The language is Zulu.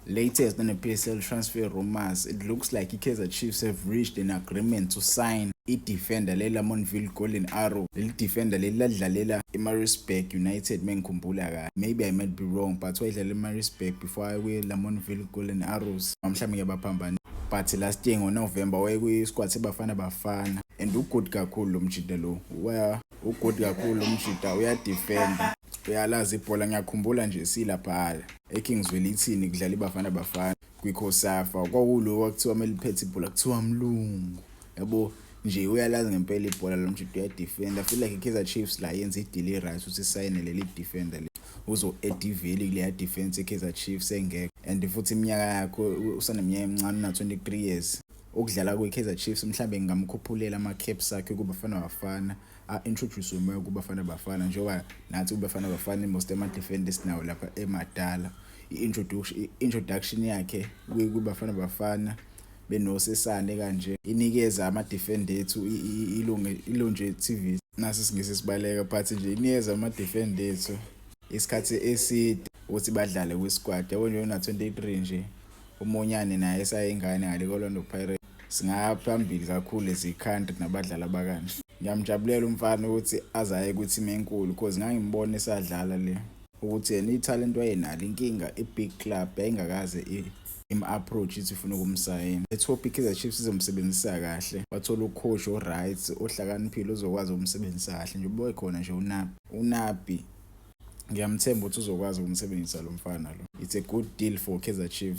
Latest on the PSL transfer rumours, it looks like i-Kaizer Chiefs have reached an agreement to sign i-defender le-Lamontville Golden Arrow. Leli defender leli ladlalela i-Maritzburg United mengikhumbula kahle. Maybe I might be wrong but wayedlala i-Maritzburg before aye kwi-Lamontville Golden Arrows. Mhlawumbe ngiyabaphambana. But last year ngoNovember wayekwi-squad seBafana Bafana and ugood kakhulu lo mjita lo. Ugood kakhulu lo mjita uyadefenda. Uyalazi ibhola ngiyakhumbula nje silaphala. eKing Zwelithini kudlala iBafana Bafana kwiCosafa kwakulo kwakuthiwa meliphethe ibhola kuthiwa mlungu yabo nje uyalazi ngempela ibhola lo mjito uyadefenda feel like iKaizer Chiefs la yenza idili right uthi sayine leli defender le uzo ediveli kuleya defense iKaizer Chiefs engekho and futhi iminyaka yakho usaneminyaka emincane na 23 years ukudlala kwiKaizer Chiefs mhlambe ngingamkhuphulela ama caps akhe kuBafana Bafana a-introduce umoya kubafana bafana njengoba nathi kubafana bafana imost ama-defend esinawo lapha emadala i-introduction yakhe kubafana bafana benosesane kanje inikeza ama-defend ethu ilonje tv nasi singisi sibaleka but nje inikeza ama-defend ethu isikhathi eside ukuthi badlale kwisquad yabo nje una-23 nje umunyane naye esayingane ngale kolwando pirate singaya phambili kakhulu as i-country nabadlali abakanje ngiyamjabulela umfana ukuthi azaye kwi-team enkulu cause ngangimbona esadlala le ukuthi yena ithalente wayenalo inkinga i-big club yayingakaze im-approach ithi ifuna ukumsayina ethope i-kaizer chiefs izomsebenzisa kahle wathola ucoach o-right ohlakaniphile ozokwazi ukumsebenzisa kahle nje uboye khona nje unabi unabi ngiyamthemba ukuthi uzokwazi ukumsebenzisa lo mfana lo it's a good deal for kaizer chiefs